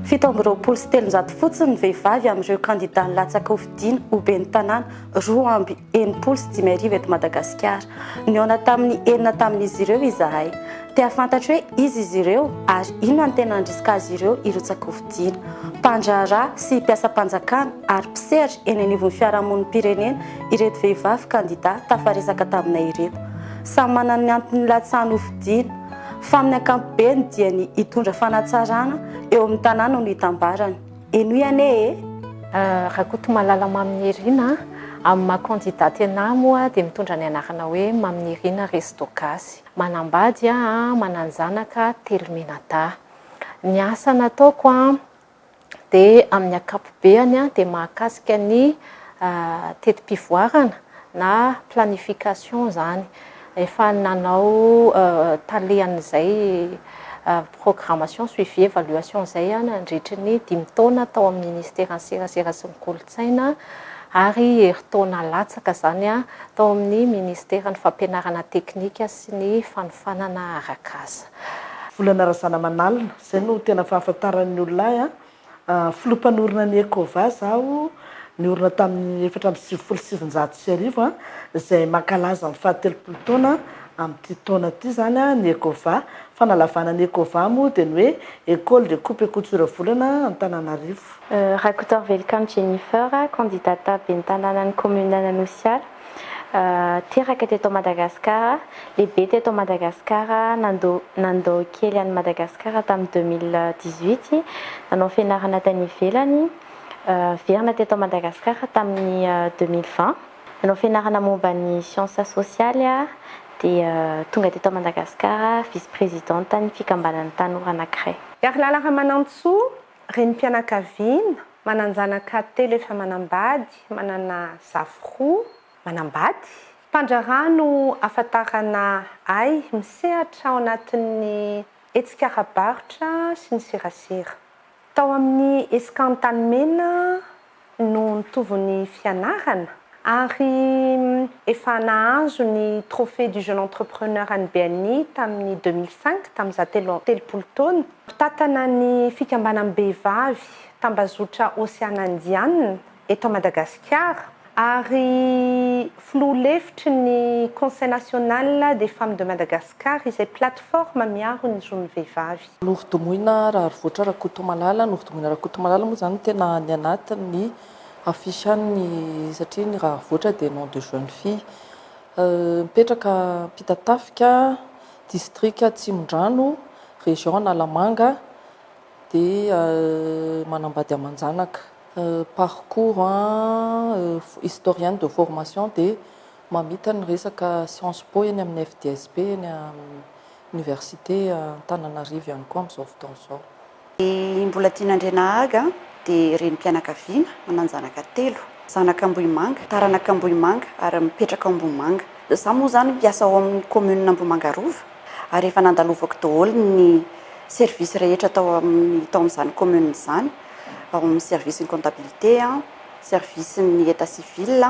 Fito amby roapolo sy telonjato fotsiny ny vehivavy amin'ireo kandidà nilatsaka hofidiana ho ben'ny tanàna roa amby enimpolo sy dimy arivo eto Madagasikara. Nihaona tamin'ny enina tamin'izy ireo izahay. Te hahafantatro hoe iza izy ireo ary inona no tena handrisika azy ireo hirotsaka-hofidiana. Mpandraharaha sy mpiasam-panjakana ary mpisehatra eny anivon'ny fiarahamonim-pirenena ireto vehivavy kandidà tafaresaka taminay ireto. Samy manana ny antony nilatsahany hofidiana, fa amin'ny ankapobeny dia ny hitondra fanatsarana eo amin'ny tanàna no itambarany. Henoy anie e! Rakotomalala Maminirina, Amin'ny maha kandidà tena ahy moa dia mitondra ny anarana hoe Maminirina Resto Gasy. Manambady aho, manan-janaka telo mianadahy. Ny asa nataoko dia amin'ny ankapobeany dia mahakasika ny teti-pivoarana na planification izany. Efa nanao tale an'izay programmation, suivi, evaluation izay aho nandritry ny dimy taona tao amin'ny Ministeran'ny Serasera sy ny Kolontsaina. kolontsaina ary herintaona latsaka izany tao amin'ny Ministeran'ny Fampianarana Teknika sy ny Fanofanana Arak'asa. Volana Razanamanalina, izay no tena fahafantaran'ny olona ahy. Filoha mpanorina ny Ecovas aho, niorina tamin'ny efatra amby sivifolo sy sivinjato sy arivo, izay mankalaza ny fahatelopolo taona amin'ity taona ity izany ny Ecovas. Fanalavana ny Ecovas moa dia ny hoe Ecole de coupe et couture Volana Antananarivo. Rakotoarivelokamo Jennifer, kandidata ben'ny tanànan'ny kaominin'Anosiala, teraka teto Madagasikara, lehibe teto Madagasikara, nandao kely an'i Madagasikara tamin'ny deux mille dix-huit, nanao fianarana tany ivelany, niverina teto Madagasikara tamin'ny deux mille vingt, nanao fianarana momba ny siansa sosialy dia tonga teto Madagasikara vice-presidente-n'ny fikambanan'ny tanora anankiray. Herilala Ramanantsoa, Renim-pianakaviana, manan-janaka telo efa manambady, manana zafy roa, manambady. Mpandraharaha no ahafantarana ahy misehatra ao anatin'ny hetsika ara-barotra sy ny serasera. Tao amin'ny Escan Antanimena no nitovy ny fianarana ary efa nahazo ny Trophée du Jeune Entrepreneur any BNI tamin'ny deux mille cinq, tamin'izaho telo amby telopolo taona. Mpitantana ny fikambanam-behivavy tambazotra Oceana Indiana eto Madagasikara ary filoha lefitry ny Conseil National des Femmes de Madagascar izay plateforme miaro ny zon'ny vehivavy. Novodomoina Raharivoatra Rakotomalala, novodomoina Rakotomalala moa izany tena any anatin'ny affiche any satria ny Raharivoatra dia nom de jeune fille. Mipetraka Ampitatafika, district Atsimondrano, région Analamanga dia manambady aman-janaka. Parcours, historienne de formation dia mamita ny resaka science po eny amin'ny FDSP eny Université Antananarivo ihany koa amin'izao fotoana izao. I Mbolatiana Andrianahaga dia renim-pianakaviana, manan-janaka telo. Zanaka Ambohimanga, taranaka Ambohimanga ary mipetraka ao Ambohimanga. Izaho moa izany mpiasa ao amin'ny kaominina Ambohimanga Rova ary efa nandalovako daholo ny services rehetra tao amin'ny tao amin'izany kaominina izany, ao amin'ny service-n'ny comptabilité, service-n'ny état civil,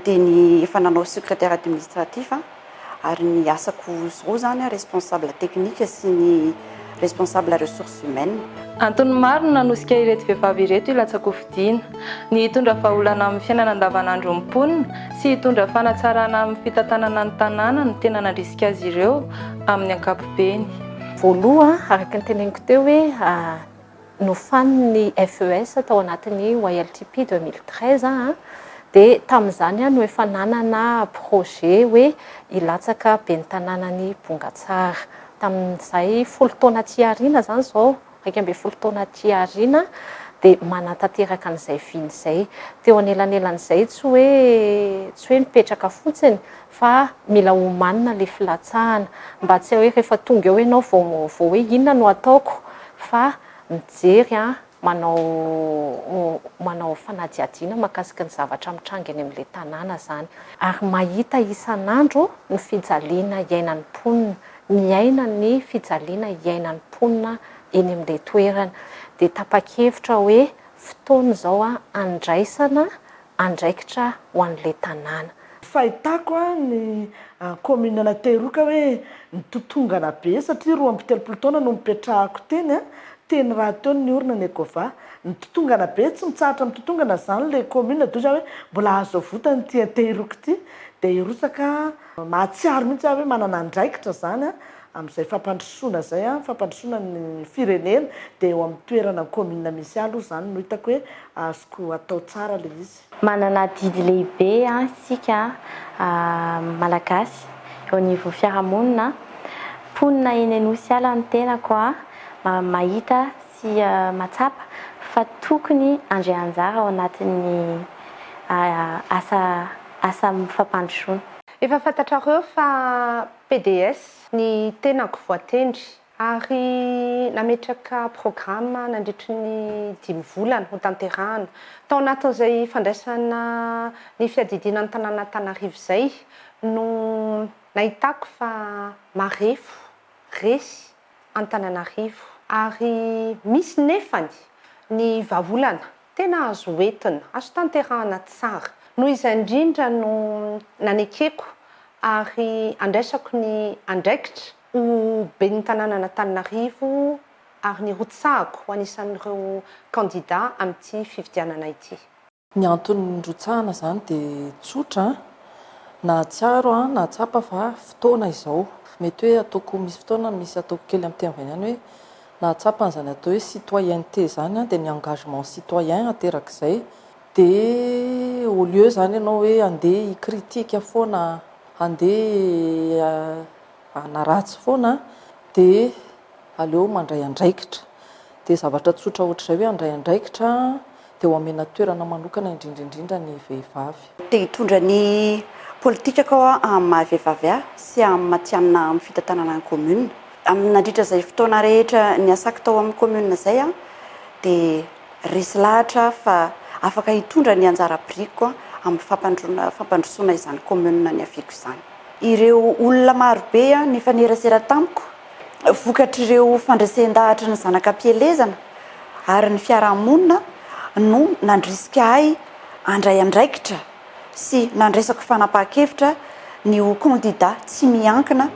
dia ny efa nanao secrétaire administratif aho. ary ny asako zao zany responsable technique sy ny responsable ressources humaines. Antony maro no nanosika ireto vehivavy ireto hilatsa-kofidina, ny hitondra vahaolana amin'ny fiainana andavanandron'ny mponina sy hitondra fanatsarana amin'ny fitantanana ny tanàna no tena nandrisika azy ireo amin'ny ankapobeny. Voaloha, araka ny teneniko teo hoe. nofanin'ny FES tao anatin'ny YLTP deux mille treize a, dia tamin'izany no efa nanana projet hoe hilatsaka ben'ny tanànan'i Bongatsara. Tamin'izay folo taona aty aoriana izany izao, iraika ambin'ny folo taona aty aoriana, dia manatanteraka an'izay vina izay. Teo anelanelan'izay tsy hoe tsy hoe nipetraka fotsiny fa mila omanina le filatsahana mba tsy hoe rehefa tonga eo ianao vao vao hoe inona no ataoko fa mijery an manao manao fanadihadiana makasika ny zavatra mitranga eny amin'ilay tanàna zany ary mahita isan'andro ny fijaliana iainan'ny mponina miaina ny fijaliana iainan'ny mponina eny amin'ilay toerana dia tapa-kevitra hoe fotoana izao an andraisana andraikitra ho an'ilay tanàna. Fahitako a ny commune ana Tehiroka hoe nitotongana be satria roa amby telopolo taona no nipetrahako teny a, teny rahateo ny orina ny Ecova. Nitotongana be, tsy mitsahatra mitotongana zany ilay commune d'où za hoe mbola azo avotany ity Tehiroka ity dia hirotsaka a. Mahatsiaro mihitsy aho hoe manana andraikitra zany a. amin'izay fampandrosoana izay, fampandrosoana ny firenena, dia eo amin'ny toerana, ny kaominina misy ahy aloha izany no hitako hoe azoko atao tsara ilay izy. Manana adidy lehibe isika Malagasy eo anivon'ny fiarahamonina. Mponina eny Anosy ala ny tenako, mahita sy mahatsapa fa tokony handray anjara ao anatin'ny asa asa fampandrosoana. Efa fantatrareo fa PDS, ny tenako voatendry ary nametraka programa nandritry ny dimy volana ho tanterahana. Tao anatin'izay fandraisana ny fiadidiana ny tanàn'Antanarivo izay no nahitako fa marefo resy Antananarivo ary misy nefany ny vahaolana Tena azo entina, azo tanterahana tsara. Noho izay indrindra no nanekeko ary andraisako ny andraikitra ho Ben'ny tanànan'Antananarivo ary nirotsahako ho anisan'ireo kandida amin'ity fifidianana ity. Ny antony nirotsahana izany dia tsotra, nahatsiaro aho, nahatsapa fa fotoana izao. Mety hoe ataoko, misy fotoana misy ataoko kely amin'ny teny vahiny any hoe nahatsapa an'izany atao hoe citoyenneté izany dia ny engagement citoyen aterak'izay dia au lieu izany ianao hoe andeha hi critique foana andeha hanaratsy foana dia aleo mandray andraikitra dia zavatra tsotra ohatr'izay hoe handray andraikitra dia ho amena toerana manokana indrindra indrindra ny vehivavy. Te hitondra ny politikako aho amin'ny maha vehivavy ahy sy amin'ny matihanina amin'ny fitantanana ny commune. Amin'ny nandritra izay fotoana rehetra niasako tao amin'ny commune izay aho dia resy lahatra aho fa afaka hitondra ny anjara birikiko amin'ny fampandroana fampandrosoana izany commune niaviako izany. Ireo olona marobe nifanerasera tamiko vokatr'ireo fandresen-dahatra ny zanak'am-pielezana ary ny fiarahamonina no nandrisika ahy handray andraikitra sy nandraisako fanapahan-kevitra ny ho kandida tsy miankina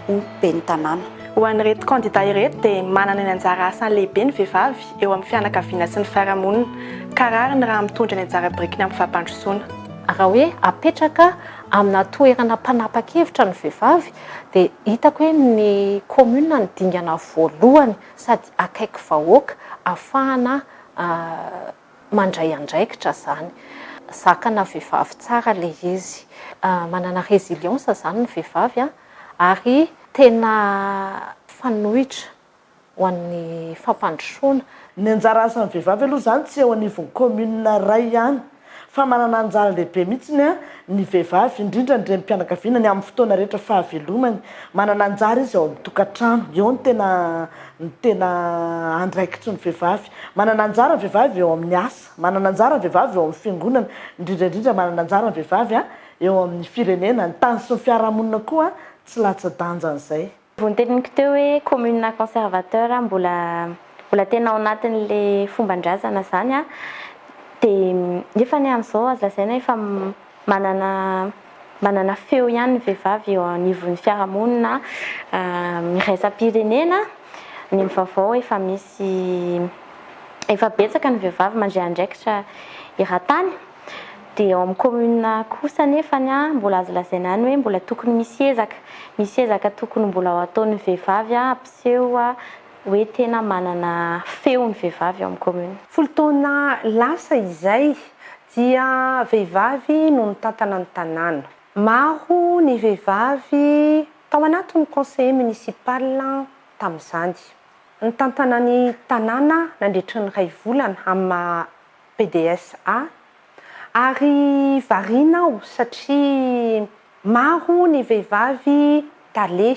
ho ben'ny tanàna. Ho an'ireto kandida ireto dia manana ny anjara asany lehibe ny vehivavy eo amin'ny fianakaviana sy ny fiarahamonina ka rariny raha mitondra ny anjara birikiny amin'ny fampandrosoana. Raha hoe apetraka amina toerana mpanapa-kevitra ny vehivavy Dia hitako hoe ny commune no dingana voalohany sady akaiky vahoaka afahana mandray andraikitra izany. Zakana vehivavy tsara ilay izy. Manana résilience izany ny vehivavy ary tena fanoitra ho an'ny fampandrosoana. Ny anjara asan'ny vehivavy aloha izany tsy eo anivon'ny commune iray ihany fa manana anjara lehibe mihitsy ny ny vehivavy indrindra ny renim-pianakaviana ny amin'ny fotoana rehetra fahavelomany manana anjara izy ao amin'ny tokantrano eo ny tena ny tena andraikitry ny vehivavy manana anjara ny vehivavy eo amin'ny asa manana anjara ny vehivavy eo amin'ny fiangonana indrindra indrindra manana anjara ny vehivavy a eo amin'ny firenena ny tany sy ny fiarahamonina koa tsy latsa-danjan'izay Vao noteniniko teo hoe commune conservateur mbola mbola tena ao anatin'le fomban-drazana zany a! dia nefa anie amin'izao azo lazaina hoe efa manana manana feo ihany ny vehivavy eo anivon'ny fiarahamonina iraisam-pirenena, ny amin'ny vaovao efa misy efa betsaka ny vehivavy mandray andraikitra eran-tany. Dia ao amin'ny commune kosa nefany mbola azo lazaina ihany hoe mbola tokony misy ezaka, misy ezaka tokony mbola ho ataon'ny vehivavy hampiseho hoe tena manana feo ny vehivavy ao amin'ny commune. Folo taona lasa izay dia vehivavy no nitantana ny tanàna. Maro ny vehivavy tao anatin'ny conseiller municipal tamin'izany. Nitantana ny tanàna nandritry ny iray volana amin'ny maha. PDS A, ary variana aho satria maro ny vehivavy tale.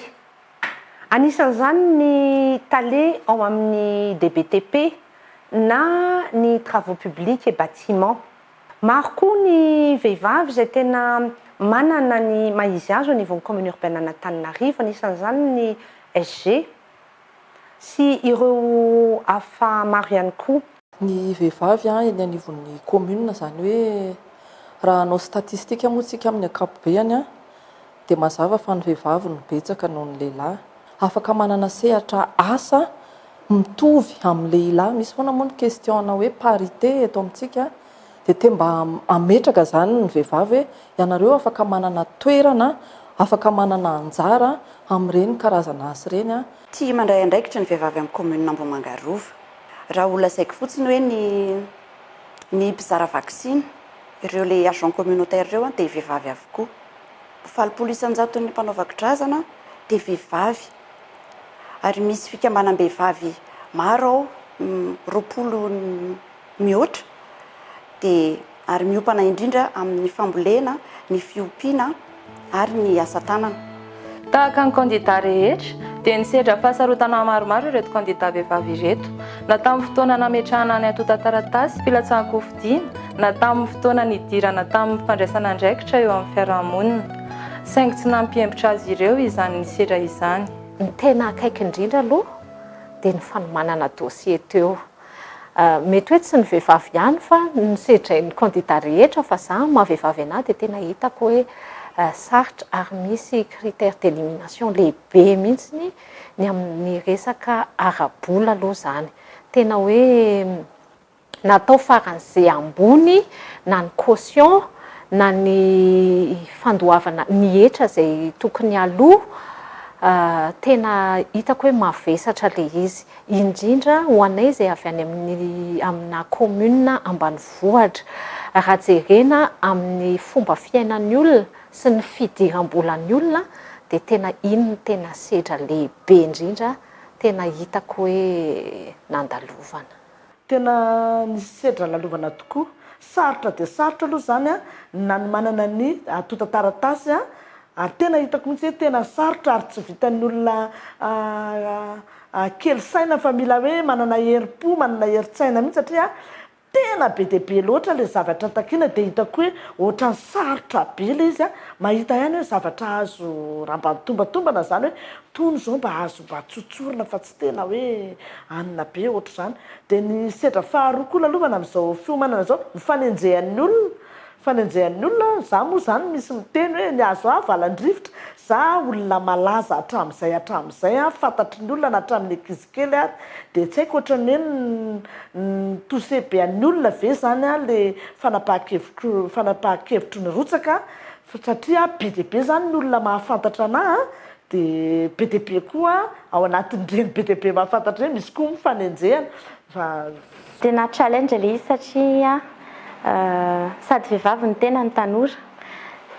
Anisan'izany ny tale ao amin'ny DBTP na ny Travaux Publics et Bâtiments. Maro koa ny vehivavy izay tena manana ny maha izy azy au niveau ny Commune Urbaine an'Antananarivo, anisan'izany ny SG. Sy ireo hafa maro ihany koa. Ny vehivavy eny anivon'ny commune, izany hoe raha hanao statistique moa isika amin'ny ankapobeany dia mazava fa ny vehivavy no betsaka noho ny lehilahy. Afaka manana sehatra asa mitovy amin'ny lehilahy, misy foana moa ny question-na hoe parité eto amintsika. Dia te mba hametraka izany ny vehivavy hoe ianareo afaka manana toerana, afaka manana anjara amin'ireny karazana asa ireny. Tia mandray andraikitra ny vehivavy amin'ny Kaominina Ambohimanga Rova. Raha ho lazaiko fotsiny hoe ny ny mpizara vaksiny, ireo ilay agent communautaire ireo dia vehivavy avokoa. Valopolo isan-jaton'ny mpanao vakidrazana dia vehivavy. Ary misy fikambanam-behivavy maro ao, roapolo. mihoatra dia ary miompana indrindra amin'ny fambolena, ny fiompiana ary ny asa tanana. Tahaka ny kandidà rehetra dia nisedra fahasarotana maromaro ireto kandidà vehivavy ireto, na tamin'ny fotoana nametrahana ny antontan-taratasy filatsahan-kofidina na tamin'ny fotoana nidirana tamin'ny fandraisana andraikitra eo amin'ny fiarahamonina, saingy tsy nampihembotra azy ireo izany nisedra izany. Ny tena akaiky indrindra aloha dia ny fanomanana dossier teo. Mety hoe tsy ny vehivavy ihany fa nosedrain'ny kandida rehetra fa za maha vehivavy anah dia tena hitako hoe sarotra ary misy critère d'élimination lehibe mihitsy ny amin'ny resaka ara-bola aloha izany. Tena hoe natao faran'izay ambony na ny caution na ny fandoavana ny hetra izay tokony aloa tena hitako hoe mavesatra ilay izy. indrindra ho anay izay avy any amin'ny aminà kaominina ambanivohitra. Raha jerena amin'ny fomba fiainan'ny olona sy ny fidiram-bolan'ny olona dia tena iny no tena sedra lehibe indrindra tena hitako hoe nandalovana. Tena nisedra lalovana tokoa. Sarotra dia sarotra aloha izany ny nanomanana ny antontan-taratasy ary tena hitako mihitsy hoe tena sarotra ary tsy vitan'ny olona kely saina fa mila hoe manana herim-po, manana herin-tsaina mihitsy satria tena be dia be loatra ilay zavatra takiana dia hitako hoe ohatran'ny sarotra be ilay izy. Mahita ihany hoe zavatra azo ramban'ny tombantombana izany hoe tony izao mba azo mba tsotsorina fa tsy. tena hoe anona be ohatr'izany. Dia ny sedra faharoa koa lalovana amin'izao fiomanana izao, ny fanenjehan'ny olona, fanenjehan'ny olona, za moa izany misy miteny hoe nihazo ahy valan-drivotra, za olona malaza hatramin'izay hatramin'izay an, fantatry ny olona na hatramin'ny ankizy kely ary, dia tsy haiko ohatran'ny hoe ni-toucher be an'ny olona ve izany an le fanapahan-kevitro, fanapahan-kevitro nirotsaka an, satria be dia be izany ny olona mahafantatra anah an, Dia be dia be koa ao anatin'ireny be dia be mahafantatra ireny misy koa ny fanenjehana fa. Tena challenge ilay izy satria sady vehivavy ny tena no tanora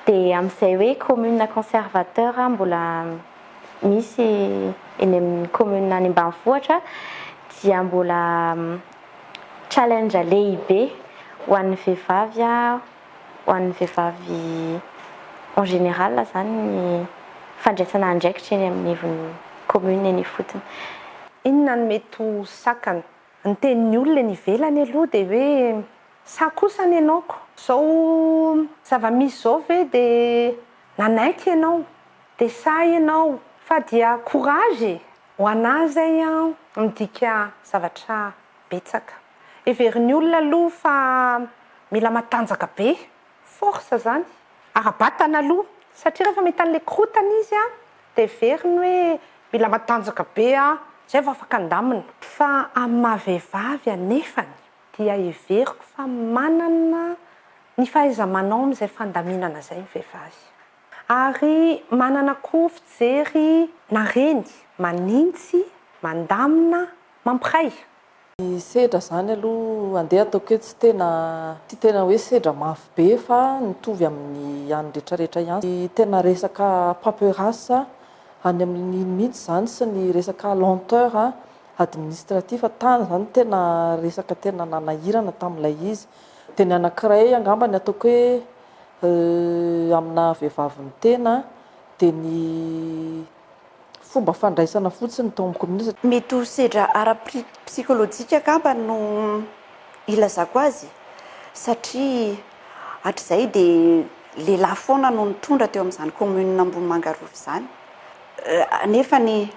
dia amin'izay hoe commune conservateur mbola misy eny amin'ny commune any ambanivohitra dia mbola challenge lehibe ho an'ny vehivavy ho an'ny vehivavy en général izany ny fandraisana andraikitra eny amin'ny ivon'ny commune eny ifotony. Inona no mety ho sakana? Ny tenin'ny olona eny ivelany aloha dia hoe sa kosa ny anaoko? Izao zava-misy izao ve dia nanaiky ianao? Dia sa ianao? Fa dia courage e! Ho anà izay an, midika zavatra betsaka. Heverin'ny olona aloha fa mila matanjaka be, force izany, ara-batana aloha. Satria rehefa mahita an'ilay korotana izy an, dia heveriny hoe mila matanjaka be aho, izay vao afaka handamina. Fa amin'ny maha vehivavy anefany, dia heveriko fa manana ny fahaiza-manao amin'izay fandaminana izay ny vehivavy. Ary manana koa fijery nareny, manintsy, mandamina, mampiray. Ny sedra zany aloha andeha ataoko eto tsy tena tsy tena hoe sedra mafy be fa mitovy amin'ny an'ny retraretra ihany sy tena resaka paperas any amin'iny mihitsy zany sy ny resaka lenteur administratif tany zany no tena resaka tena nanahirana tamin'ilay izy de ny anankiray angamba ny ataoko hoe aminà vehivavy mitena de ny fomba fandraisana fotsiny tao amin'ny kominista. Mety ho sedra ara-psikolojika angamba no ilazako azy satria hatrizay dia lehilahy foana no nitondra teo amin'izany commune Ambohimanga Rova izany, nefany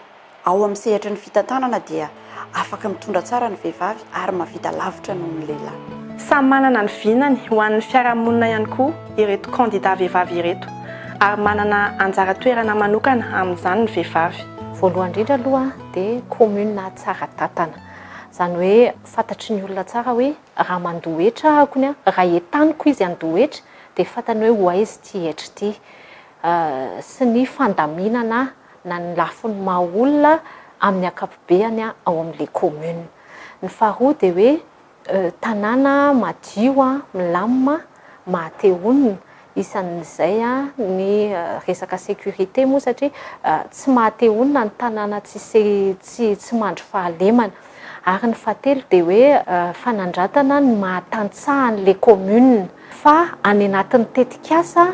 ao amin'ny sehatry ny fitantanana dia. Afaka mitondra tsara ny vehivavy ary mahavita lavitra noho ny lehilahy. Samy manana ny vinany ho an'ny fiarahamonina ihany koa ireto kandidà vehivavy ireto ary manana anjara toerana manokana amin'izany ny vehivavy. Voalohany indrindra aloha dia kaominina tsara tantana. Izany hoe fantatry ny olona tsara hoe raha mandoa hetra aho kony an, raha entaniko izy handoa hetra dia fantany hoe ho aiza ity hetra ity sy ny fandaminana na ny lafiny maha olona amin'ny ankapobeany ao amin'ilay commune. Ny faharoa dia hoe tanàna madio, milamina, maha te honina. Isan'izay ny resaka sécurité moa satria tsy maha te honina ny tanàna tsy mandry fahalemana. Ary ny fahatelo dia hoe fanandratana ny maha tantsaha an'ilay commune. fa any anatin'ny tetikasa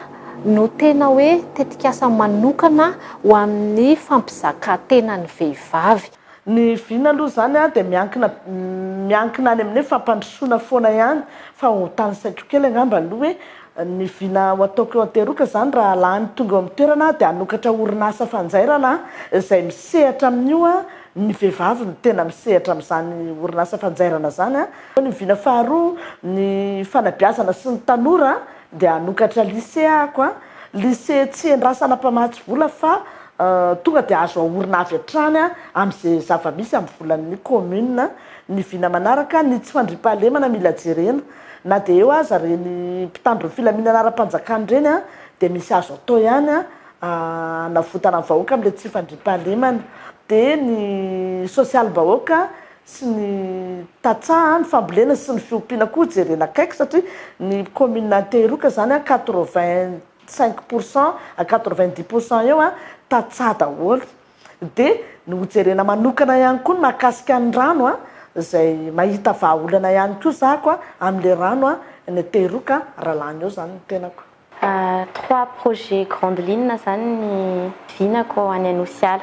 no tena hoe tetikasa manokana ho amin'ny fampizakan-tena ny vehivavy. Ny vina aloha izany dia miankina miankina any amin'ny hoe fampandrosoana foana ihany fa ho tanisaiko kely angamba aloha hoe ny vina ho ataoko eo Anteroka izany raha lany tonga eo amin'ny toerana aho dia hanokatra orinasa fanjairana izay misehatra amin'io ny vehivavy no tena misehatra amin'izany orinasa fanjairana izany Fa ny vina faharoa ny fanabeazana sy ny tanora dia hanokatra lycée ako a, lycée tsy endrasana mpamatsy vola fa tonga dia azo aorina avy hatrany a amin'izay zava-misy amin'ny volan'ny commune, ny vina manaraka ny tsy fandriampahalemana mila jerena, na dia eo aza ireny mpitandro ny filaminana ara-panjakana ireny a dia misy azo atao ihany a hanavotana ny vahoaka amin'ilay tsy fandriampahalemana, dia ny sosialim-bahoaka sy ny tantsaha a, ny fambolena sy ny fiompiana koa jerena akaiky satria ny commune Antehiroka zany a quatre vingt cinq pour cent à quatre vingt dix pour cent eo a tantsaha daholo de ny ho jerena manokana ihany koa ny mahakasika ny rano a zay mahita vahaolana ihany koa zako a amle rano a any Antehiroka raha lany eo zany ny tenako. Trois projets grandes lignes izany ny vinako any Anosiala.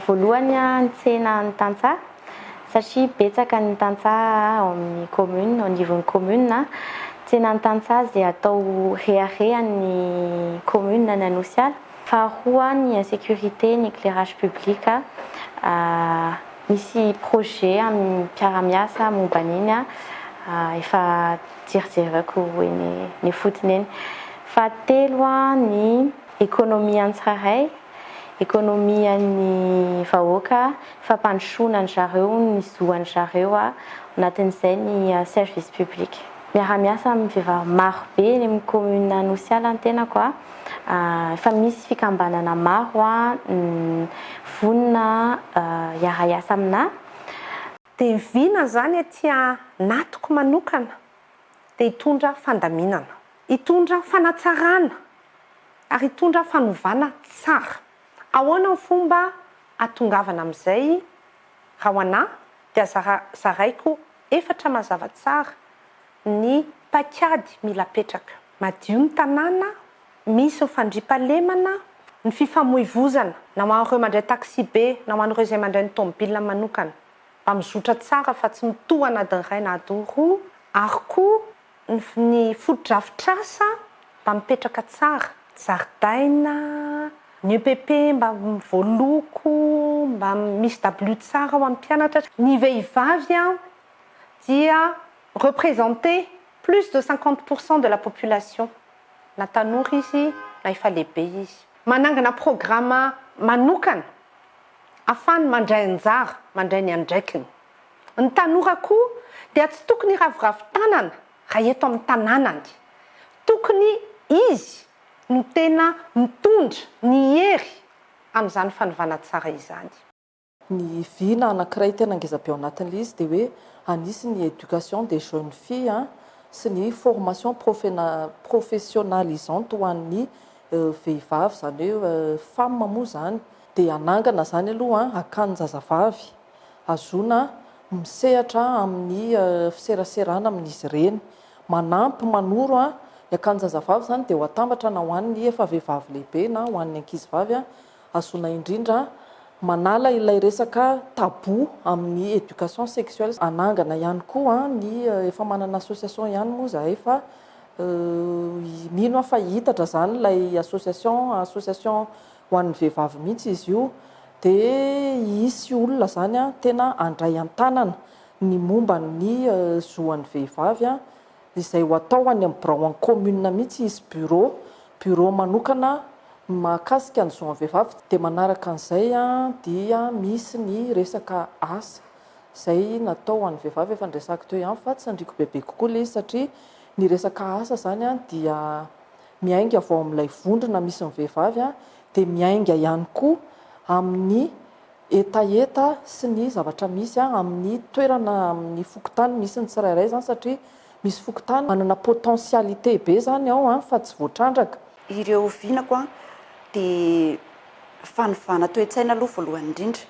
Voalohany ny tsena an'ny tantsaha satria betsaka ny tantsaha ao amin'ny commune, ao anivon'ny commune. Tsenan'ny tantsaha izay atao reharehan'ny commune any Anosiala. Faharoa ny insécurité, ny éclairage public. Misy projets amin'ny mpiara-miasa momba an'iny efa. Jerjerako eny ifotony eny. Fahatelo ny ekonomian'ny tsirairay, ekonomian'ny vahoaka, fampandrosoana an-dry zareo, ny zo an-dry zareo, ao anatin'izay ny service public. Miara-miasa amin'ny vehivavy maro be eny amin'ny commune Anosiala ny tenako. Efa misy fikambanana maro vonona hiara-hiasa aminà. Dia vina izany aty anatiko manokana dia hitondra fandaminana, hitondra fanatsarana ary hitondra fanovana tsara. Ahoana ny fomba ahatongavana amin'izay? Raha ho anà dia zaraiko efatra mazava tsara ny paikady mila apetraka. Madio ny tanàna, Misy ny fandriampahalemana, ny fifamoivozana na ho an'ireo mandray taxi-be na ho an'ireo izay mandray ny tomobilina manokana, mba mizotra tsara fa tsy mitoha na adiny iray na adiny roa, ary koa ny ny fotodrafitrasa mba mipetraka tsara, zaridaina, ny EPP mba voaloko, mba misy dabilio tsara ho an'ny mpianatra. Ny vehivavy dia representée plus de cinquante pour cent de la population. na tanora izy na efa lehibe izy. Manangana programa manokana afany mandray anjara, mandray ny andraikiny. Ny tanora koa dia tsy tokony hiraviravy tanana raha eto amin'ny tananany. Tokony izy no tena mitondra ny hery amin'izany fanovana tsara izany. Ny vy na anankiray tena ngeza be ao anatin'ilay izy dia hoe anisy ny éducation des jeunes filles sy ny formation profena professionnalisante ho an'ny vehivavy izany hoe femme moa izany dia hanangana izany aloha hakan'ny zazavavy hazoana misehatra amin'ny fiseraserana amin'izy ireny. Manampy manoro ny akan'ny zazavavy izany dia ho atambatra na ho an'ny efa vehivavy lehibe na ho an'ny ankizivavy Azonay indrindra manala ilay resaka tabou amin'ny éducation sexuelle, hanangana ihany koa ny efa manana association ihany moa zahay fa mino aho fa hiitatra zany ilay association, association ho an'ny vehivavy mihitsy izy io dia hisy olona zany tena handray an-tanana ny momba ny zo an'ny vehivavy. izay ho atao any amin'ny birao an-kaominina mihitsy hisy bureau, bureau manokana ny mahakasika ny zo an'ny vehivavy dia manaraka an'izay dia misy ny resaka asa izay natao ho an'ny vehivavy efa noresahiko teo ihany fa tsy handriako bebe kokoa ilay izy satria ny resaka asa izany dia miainga avy ao amin'ilay vondrona misy ny vehivavy dia miainga ihany koa amin'ny hetaheta sy ny zavatra misy amin'ny toerana amin'ny fokontany misy ny tsirairay izany satria misy fokontany manana potentialité be izany ao fa tsy voatrandraka. Ireo vinako dia fanovana toe-tsaina aloha voalohany indrindra,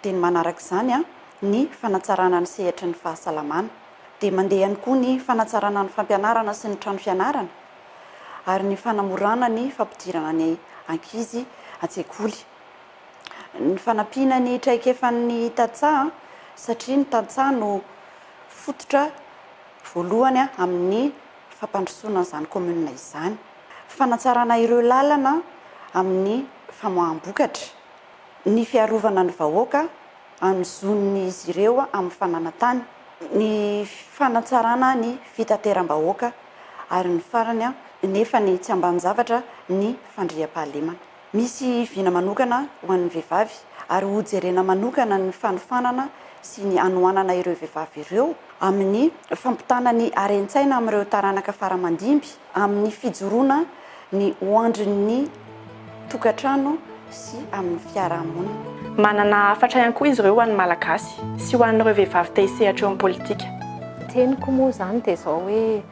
dia ny manaraka izany ny fanatsarana ny sehatry ny fahasalamana, dia mandeha ihany koa ny fanatsarana ny fampianarana sy ny trano fianarana ary ny fanamorana ny fampidirana ny ankizy an-tsekoly. ny fanampiana ny traikefan'ny tantsaha satria ny tantsaha no fototra voalohany amin'ny fampandrosoana an'izany kaominina izany. Fanatsarana ireo lalana amin'ny famoaham-bokatra, ny fiarovana ny vahoaka amin'ny zon'izy ireo amin'ny fananantany, ny fanatsarana ny fitateram-bahoaka ary ny farany nefa ny tsy ambanin-javatra ny fandriampahalemana. Misy vina manokana ho an'ny vehivavy ary hojerena manokana ny fanofanana sy ny hanohanana ireo vehivavy ireo amin'ny fampitana ny haren-tsaina amin'ireo taranaka faramandimby amin'ny fijoroana ny ho andrin'ny tokantrano sy amin'ny fiarahamonina. Manana hafatra ihany koa izy ireo ho an'ny Malagasy sy ho an'ireo vehivavy te hisehatra eo amin'ny politika. Ny teniko moa izany dia izao hoe,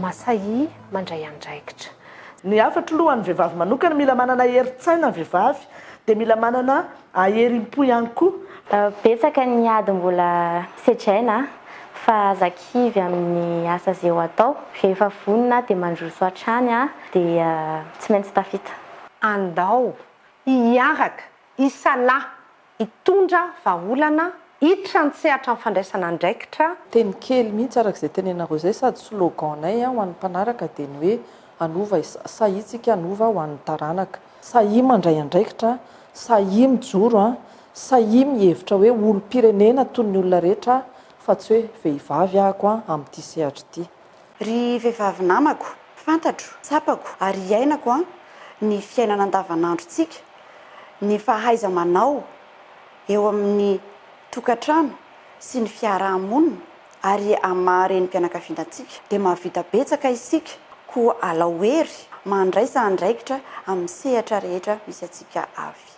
Masahia mandray andraikitra. Ny hafatro loha ho an'ny vehivavy manokana, mila manana herin-tsaina ny vehivavy, dia mila manana aerim-po ihany koa. Betsaka ny ady mbola sedraina fa aza kivy amin'ny asa ze ho atao, rehefa vonona dia mandroso hatrany dia tsy maintsy tafita. Andao hiaraka, hisalahy, hitondra vahaolana hiditra an-tsehatra amin'ny fandraisana andraikitra, Teny kely mihitsy araka izay tenenareo izay sady slogan-nay ho an'ny mpanaraka dia ny hoe hanova sahia tsika hanova ho an'ny taranaka. Sahia mandray andraikitra, sahia mijoro, sahia mihevitra hoe olom-pirenena toy ny olona rehetra aho fa tsy hoe vehivavy ahako amin'ity sehatra ity. Ry vehivavy namako, fantatro, tsapako ary iainako an ny fiainana andavanandrontsika, ny fahaiza-manao eo amin'ny tokantrano sy ny fiaraha-monina ary amin'ny maha renim-pianakaviana antsika dia mahavita betsaka isika koa alao hery mandraisa andraikitra amin'ny sehatra rehetra misy antsika avy.